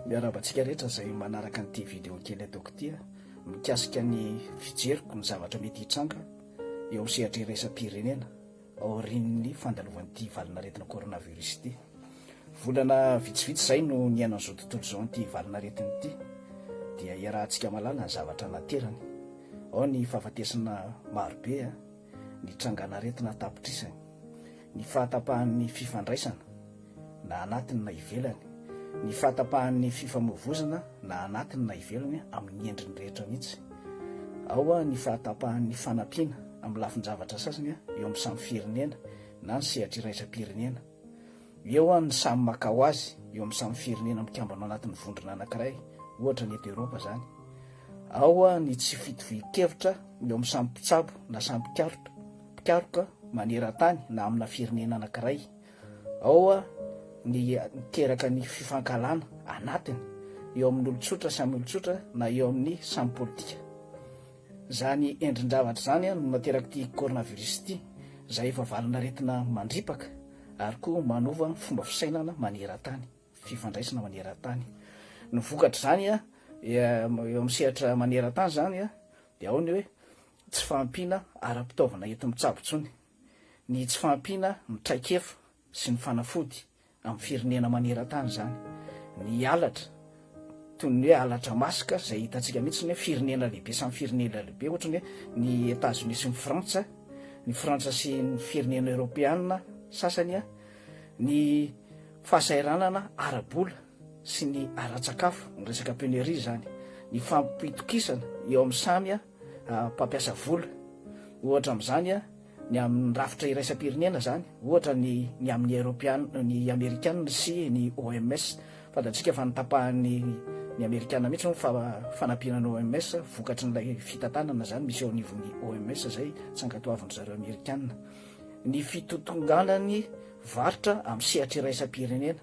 Miarahaba antsika rehetra izay manaraka an'ity vidéo kely ataoko ity mikasika ny fijeriko ny zavatra mety hitranga eo amin'ny sehatra iraisam-pirenena aorian'ny fandalovan'ity valinaretina coronavirus ity. Volana vitsivitsy izay no niaina an'izao tontolo izao an'ity valinaretina ity dia iarahantsika mahalala ny zavatra naterany. Ao ny fahafatesana marobe a. ny trangan'aretina an-tapitrisany, ny fahatapahan'ny fifandraisana, na anatiny na ivelany, ny fahatapahan'ny fifamoivozona, na anatiny na ivelany, amin'ny endriny rehetra mihitsy. Ao ny fahatapahan'ny fanampiana amin'ny lafin-javatra sasany eo amin'ny samy firenena na ny sehatra iraisam-pirenena. Eo an ny samy maka ho azy eo amin'ny samy firenena mikambana ao anatin'ny vondrona anankiray, ohatra ny eto Eropa izany. Ao an ny tsy fitovian-kevitra eo amin'ny samy mpitsabo na samy mpikaroka mpikaroka maneran-tany na amina firenena anankiray. Ao an ny miteraka ny fifankahalana anatiny eo amin'ny olon-tsotra samy olon-tsotra na eo amin'ny samy politika. Izany endrin-javatra izany no nateraka ity coronavirus ity, izay efa valin'aretina mandripaka ary koa manova fomba fisainana maneran-tany, fifandraisana maneran-tany. Ny vokatr'izany eo amin'ny sehatra maneran-tany izany dia ao ny hoe tsy fahampiana ara-pitaovana enti-mitsabo intsony, ny tsy fahampiana ny traikefa sy ny fanafody. amin'ny firenena maneran-tany izany. Ny halatra, toy ny hoe halatra maska izay hitantsika mihitsy ny hoe firenena lehibe samy firenena lehibe, ohatra ny hoe ny Etazonia sy ny Frantsa, ny Frantsa sy ny firenena eoropeana sasany, ny fahasahiranana ara-bola sy ny ara-tsakafo, ny resaka penurie izany, ny fampitokisana eo amin'ny samy. mpampiasa vola. Ohatra amin'izany ny amin'ny rafitra iraisam-pirenena izany, ohatra ny ny amin'ny Eropeana, ny Amerikana sy ny OMS. Fantatsika fa notapahan'ny ny Amerikana mihitsy ny fa fanampiana an'ny OMS vokatry ilay fitantanana izany misy eo anivon'ny OMS izay tsy ankatoavin'ny zareo Amerikana ny fitotonganan'ny varotra amin'ny sehatra iraisam-pirenena.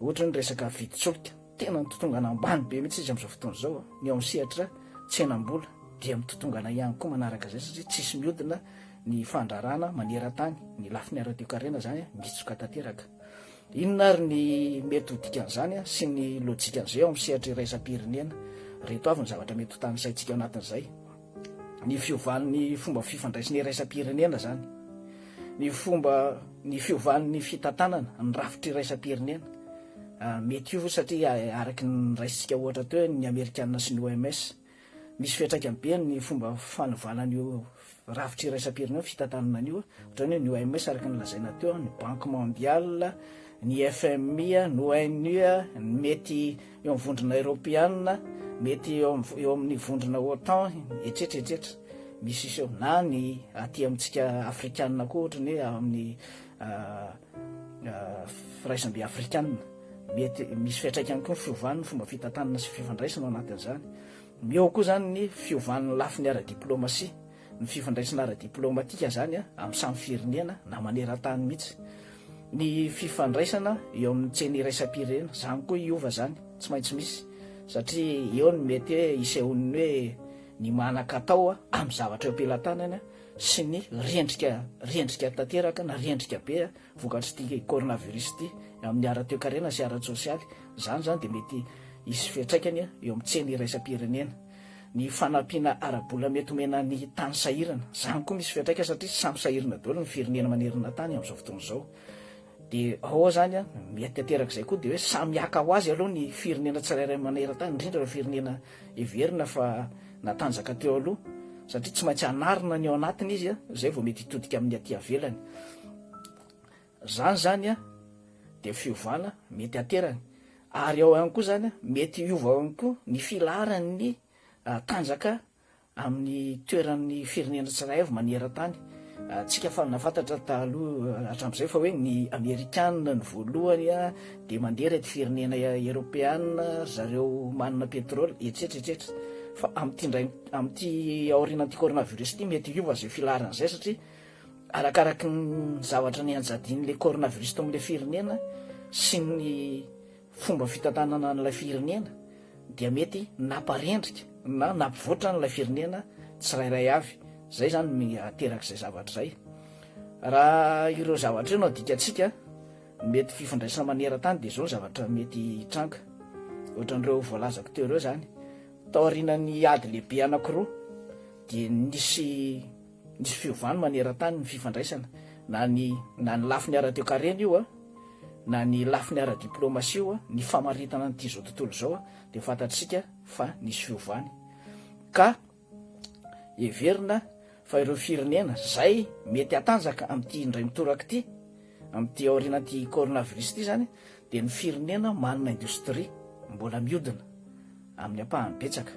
Ohatra ny resaka vidin-tsolika, tena mitotongana ambany be mihitsy izy amin'izao fotoana izao. Ny ao amin'ny sehatra tsenam-bola dia mitotongana ihany koa manaraka izay satria tsisy mihodina ny fandrarana maneran-tany, ny lafiny ara-toekarena izany mitsoka tanteraka. Inona ary ny mety ho dikan'izany sy ny lojikan'izay ao amin'ny sehatra iraisam-pirenena? Ireto avy ny zavatra mety ho tanisaintsika ao anatin'izay. ny fiovan'ny fomba fifandraisana iraisam-pirenena izany, ny fomba ny fiovan'ny fitantanana ny rafitra iraisam-pirenena. Ah, mety io satria ah, araky ny niraisintsika ohatra teo ny Amerikana sy ny OMS, misy fiantraikany be ny fomba fanovana an'io rafitra iraisam-pirenena ny fitantanana an'io. Ohatrany hoe ny OMS araky ny lazaina teo, ny Banque Mondiale, ny FMI, ny ONU, ny mety eo amin'ny vondrona eropeanina, mety eo am- eo amin'ny vondrona OTAN, etsetra etsetra, misy iseho. Na ny aty amintsika afrikanina koa, ohatra ny hoe amin'ny ah, ah, firaisambe afrikanina, mety misy fiantraikany koa ny fiovan'ny fomba fitantanana sy fifandraisana ao anatin'izany. Eo koa izany ny fiovan'ny lafiny ara-diplaomasia. ny fifandraisana ara-diplaomatika izany amin'ny samy firenena na maneran-tany mihitsy, ny fifandraisana eo amin'ny tsena iraisam-pirenena, izany koa hiova izany, tsy maintsy misy satria eo no mety hoe hisehoan'ny hoe ny manan-katao amin'ny zavatra eo am-pelatanana sy ny rendrika rendrika tanteraka na rendrika be vokatr'ity coronavirus ity amin'ny ara-toekarena sy ara-tsosialy, izany izany dia mety hisy fiantraikany eo amin'ny tsena iraisam-pirenena. Ny fanampiana ara-bola mety omena ny tany sahirana, izany koa misy fiantraikany satria samy sahirana daholo ny firenena manerana tany amin'izao fotoana izao. Dia ao izany, mety ateraka izay koa dia hoe samy haka ho azy aloha ny firenena tsirairay maneran-tany, indrindra ireo firenena heverina fa natanjaka teo aloha, satria tsy maintsy hanarina ny ao anatiny izy, izay vao mety hitodika amin'ny aty avelany. Zany zany a de fiovana mety aterany ary ao ihany koa zany a mety hiova ihany koa ny filaharan'ny tanjaka amin'ny toeran'ny firenena tsirairay avy manerantany tsika fa nafantatra taloha hatramizay fa hoe ny amerikana ny voalohany a de mandeha reto firenena eropeana ry zareo manana petrole etsetra etsetra fa amty ndray amty aorianan'ity coronavirus ity mety hiova zay filaharan'izay satria Arakaraky ny zavatra nianjadian'ilay coronavirus tao amin'ilay firenena sy ny fomba fitantanana an'ilay firenena dia mety namparendrika na nampivoatra an'ilay firenena tsirairay avy. Izay izany no ateraka izay zavatra izay. Raha ireo zavatra ireo no adikantsika, ny mety fifandraisana maneran-tany dia izao ny zavatra mety hitranga, ohatran'ireo voalazako teo ireo izany. Taorianan'ny ady lehibe anankiroa dia nisy Nisy fiovany maneran-tany ny fifandraisana, na ny na ny lafiny ara-toekarena io a, na ny lafiny ara-diplaomasia io a, ny famaritana an'ity izao tontolo izao a, dia fantatsika fa nisy fiovany. Ka heverina fa ireo firenena izay mety hatanjaka amin'ity indray mitoraka ity, amin'ity aorianan'ity coronavirus ity izany, dia ny firenena manana indostria mbola miodina amin'ny ampahany betsaka,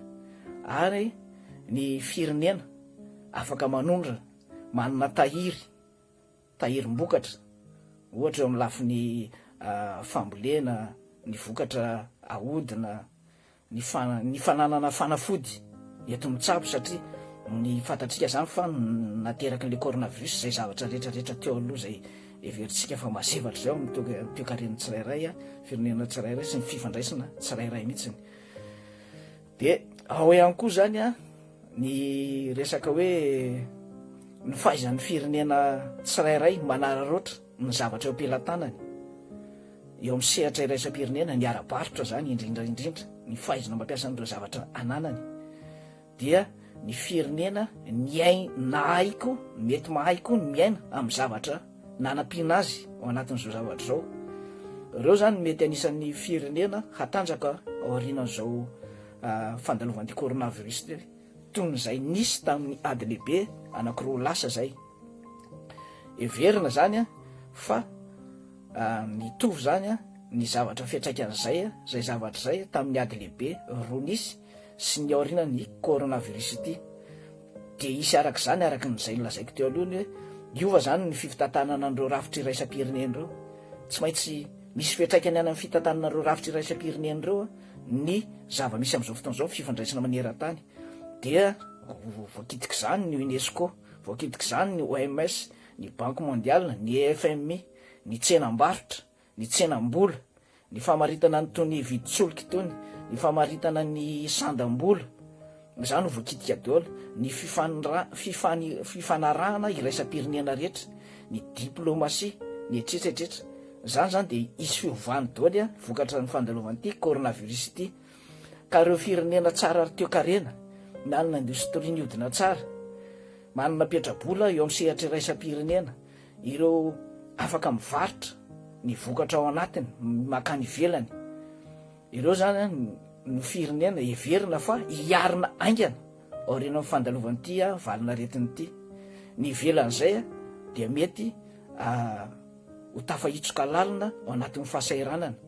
ary ny firenena. Afaka manondro, manana tahiry, tahirim-bokatra, ohatra eo amin'ny lafiny fambolena, ny vokatra ahodina, ny ny fananana fanafody eto mitsabo satria ny fantatsika izany fa nateraky ilay coronavirus izay zavatra rehetra rehetra teo aloha izay heverintsika fa mazevatra izay ao amin'ny toe- toekaren'ny tsirairay, firenena tsirairay sy ny fifandraisana tsirairay mihitsy. Dia ao ihany koa izany ny resaka hoe ny fahaizan'ny firenena tsirairay manararaotra ny zavatra eo am-pelatanany eo amin'ny sehatra iraisam-pirenena, ny ara-barotra izany indrindra indrindra, ny fahaizana mampiasa an'ireo zavatra ananany dia ny firenena niain- nahay koa, mety mahay koa ny miaina amin'ny zavatra nanampiana azy ao anatin'izao zavatra izao. Ireo izany mety anisan'ny firenena hatanjaka aorianan'izao fandalovan'ity coronavirus ity, toy ny izay nisy tamin'ny ady lehibe anankiroa lasa izay. Heverina izany fa mitovy izany ny zavatra fiantraikan'izay izay zavatra izay tamin'ny ady lehibe roa nisy sy ny aorianan'ny coronavirus ity dia hisy araka izany araka ny izay nolazaiko teo aloha ny hoe hiova izany ny fifitantanana an'ireo rafitra iraisam-pirenena ireo. Tsy maintsy misy fiantraikany any amin'ny fitantanana ireo rafitra iraisam-pirenena ireo ny zava-misy amin'izao fotoana izao ny fifandraisana maneran-tany dia voakitik'izany ny UNESCO, voakitik'izany ny OMS, ny Banky Mondiale, ny FMI, ny tsenam-barotra, ny tsenam-bola, ny famaritana an'itony vidin-tsolika itony, ny famaritana ny sandam-bola, izany no voakitika daholo, ny fifanarahana iraisam-pirenena rehetra, ny diplomasia, ny etsetra etsetra. Izany izany dia hisy fiovany daholo an, vokatra ny fandalovan'ity coronavirus ity. Ka ireo firenena tsara ary toekarena, manana indostria mihodina tsara, manana petra-bola eo amin'ny sehatra iraisam-pirenena, Ireo afaka mivarotra ny vokatra ao anatiny mankany ivelany ireo izany no firenena heverina fa hiarina haingana aoriana amin'ny fandalovan'ity valin'aretina ity. Ny ivelan'izay dia mety ho tafahitsoka lalina ao anatin'ny fahasahiranana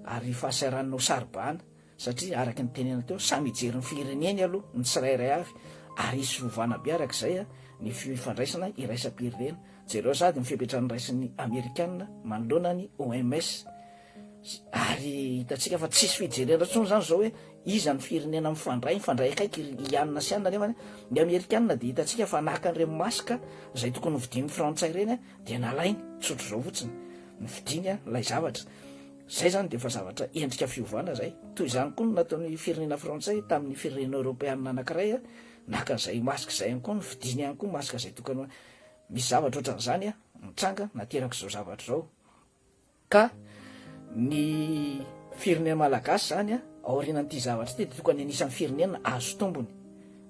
ary fahasahiranana ho saro-bahana. satria araka ny tenena teo samy hijery ny fireneny aloha ny tsirairay avy ary hisy fiovana be araka izay ny fifandraisana iraisam-pirenena, jereo sady ny fepetra noraisin'ny amerikana manoloana ny OMS ary hitantsika fa tsisy fijerena intsony izany izao hoe iza ny firenena mifandray, mifandray akaiky ry Ian sy Ann nefa ny amerikana dia hitantsika fa naka an'ireny masque izay tokony hovidian'ny frantsay ireny dia nalainy, tsotr'izao fotsiny ny vidiany ilay zavatra. Izay izany dia efa zavatra endrika fiovana izay. Toy izany koa no nataon'ny firenena frantsay tamin'ny firenena eoropeanina anankiray, naka izay masque izay ihany koa, novidiany ihany koa masque izay tokony ho. Misy zavatra ohatran'izany nitranga nateraka izao zavatra izao. Ka ny firenena malagasy izany aorianan'ity zavatra ity dia tokony anisan'ny firenena azo tombony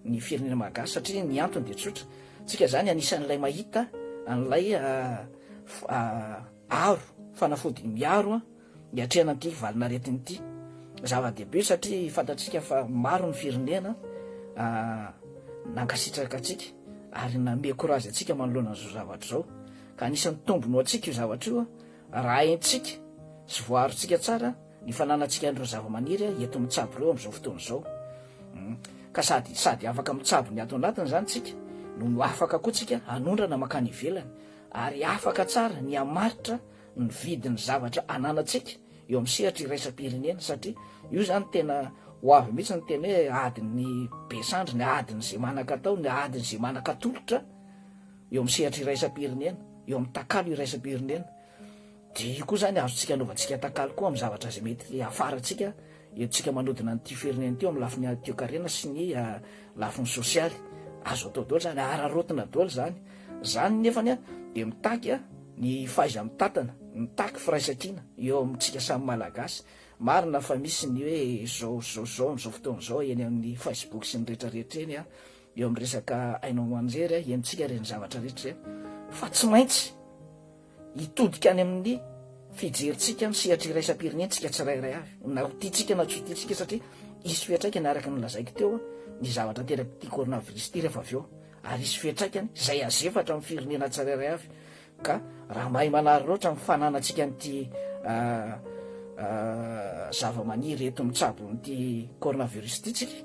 ny firenena malagasy satria ny antony dia tsotra, tsika izany anisan'ilay mahita an'ilay Aro, fanafody miaro an, hiatrehana ity valinaretina ity. Zava-dehibe satria fantatsika fa maro ny firenena nankasitraka antsika ary nanome courage antsika manoloana an'izao zavatra izao. Ka anisan'ny tombony ho antsika io zavatra io raha haintsika sy voaarontsika tsara ny fananantsika an'ireo zava-maniry eto mitsabo ireo amin'izao fotoana izao. Ka sady sady afaka mitsabo ny ato anatiny izany isika no afaka koa isika hanondrana mankany ivelany. ary afaka tsara ny hamaritra ny vidin'ny zavatra ananantsika eo amin'ny sehatra iraisam-pirenena satria io izany tena ho avy mihitsy ny tena hoe adin'ny be sandry, ny adin'izay manan-katao, ny adin'izay manan-katolotra eo amin'ny sehatra iraisam-pirenena, eo amin'ny takalo iraisam-pirenena. Dia io koa izany azontsika anaovantsika takalo koa amin'ny zavatra izay mety hiafarantsika entintsika manodina an'ity firenena ity eo amin'ny lafiny ara-toekarena sy ny lafiny sosialy. Azo atao daholo izany, araraotina daholo izany. Izany nefany dia mitaky ny fahaiza-mitantana, mitaky firaisankina eo amintsika samy Malagasy. Marina fa misy ny hoe izao izao izao amin'izao fotoana izao eny amin'ny Facebook sy ny rehetra rehetra eny, eo amin'ny resaka haino aman-jery entintsika ireny zavatra rehetra ireny fa tsy maintsy. Hitodika any amin'ny fijerintsika ny sehatra iraisam-pirenentsika tsirairay avy, na ho tiantsika na tsy ho tiantsika, satria hisy fiantraikany araka ny nolazaiko teo ny zavatra aterak'ity coronavirus ity rehefa avy eo, ary hisy fiantraikany izay hazefatra amin'ny firenena tsirairay avy, ka raha mahay manary loatra ny fananantsika an'ity zavamaniry eto mitsabo an'ity coronavirus ity tsika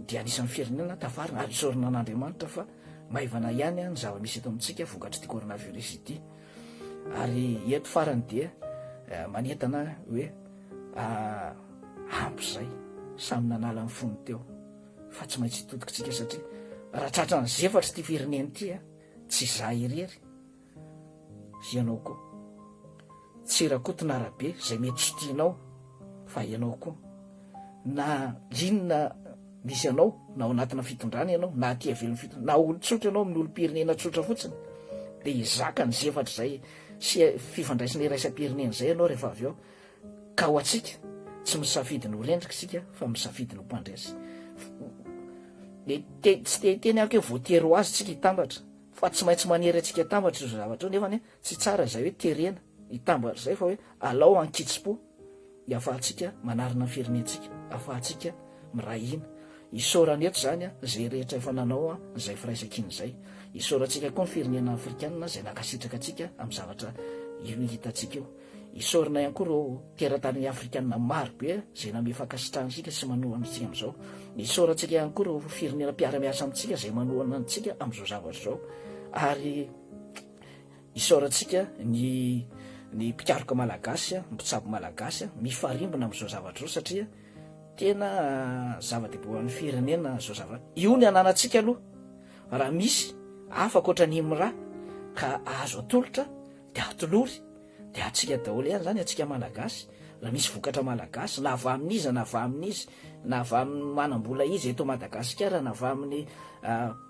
dia anisan'ny firenena tafarina, ary isaorana an'Andriamanitra fa. Maivana ihany ny zava-misy eto amintsika vokatr'ity coronavirus ity. Ary eto farany dia eh, manentana hoe ah, ampy izay, samy nanala ny fony teo. Fa tsy maintsy hitodikitsika satria raha tratran'ny zefatry ity firenena ity, eh, tsy izaho irery Ianao koa. Tsy Rakotonarabe izay mety tsy tianao fa ianao koa. Na inona misy anao, na ao anatina fitondrana ianao, na aty ivelan'ny fitondrana, na olon-tsotra ianao amin'ny olom-pirenena tsotra fotsiny, dia hizaka ny zefatra izay sy fifandraisana iraisam-pirenena izay ianao rehefa avy eo. Ka ho antsika, tsy misafidy ny ho rendrika isika fa misafidy ny ho mpandresy. Dia tsy te hiteny aho aky hoe voatery ho azy isika hitambatra. Fa tsy maintsy manery antsika atambatra izao zavatra izao, nefa anie tsy tsara izay hoe terena hitambatra izay fa hoe alao ankitsi-po hiafahantsika manarina ny firenentsika, afahantsika miray hina. Isaorana eto izany izay rehetra efa nanao izay firaisankina izay. Isaorantsika koa ny firenena afrikanina izay nankasitraka antsika amin'ny zavatra io hitantsika io. Isaorana ihany koa ireo teratany afrikana maro be izay nanome fankasitrahana antsika sy manohana antsika amin'izao. Isaorantsika ihany koa ireo firenena mpiara-miasa amintsika izay manohana antsika amin'izao zavatra izao. Ary isaorantsika ny ny mpikaroka malagasy, mpitsabo malagasy mifarimbona amin'izao zavatra izao satria tena zava-dehibe ho an'ny firenena izao zavatra. Io ny ananantsika aloha. Raha misy hafa ankoatra an'i Imra ka azo atolotra, Dia hatolory, dia hatsiaka daholo ihany izany, hatsiaka Malagasy, raha misy vokatra Malagasy, na avy amin'iza na avy amin'iza, na avy amin'ny manam-bola iza eto Madagasikara, na avy amin'ny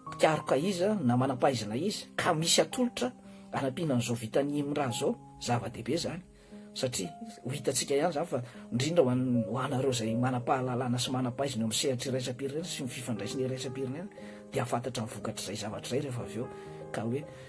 mpikaroka iza, na manam-pahaizana iza, ka misy atolotra hanampiana an'izao vitan'i Imran izao, zava-dehibe izany, satria ho hitantsika ihany izany fa, indrindra ho an'ny, ho anareo izay manam-pahalalana sy manam-pahaizana eo amin'ny sehatry iraisam-pirenena sy ny fifandraisana iraisam-pirenena, dia hahafantatra ny vokatr'izay zavatra izay rehefa avy eo, ka hoe.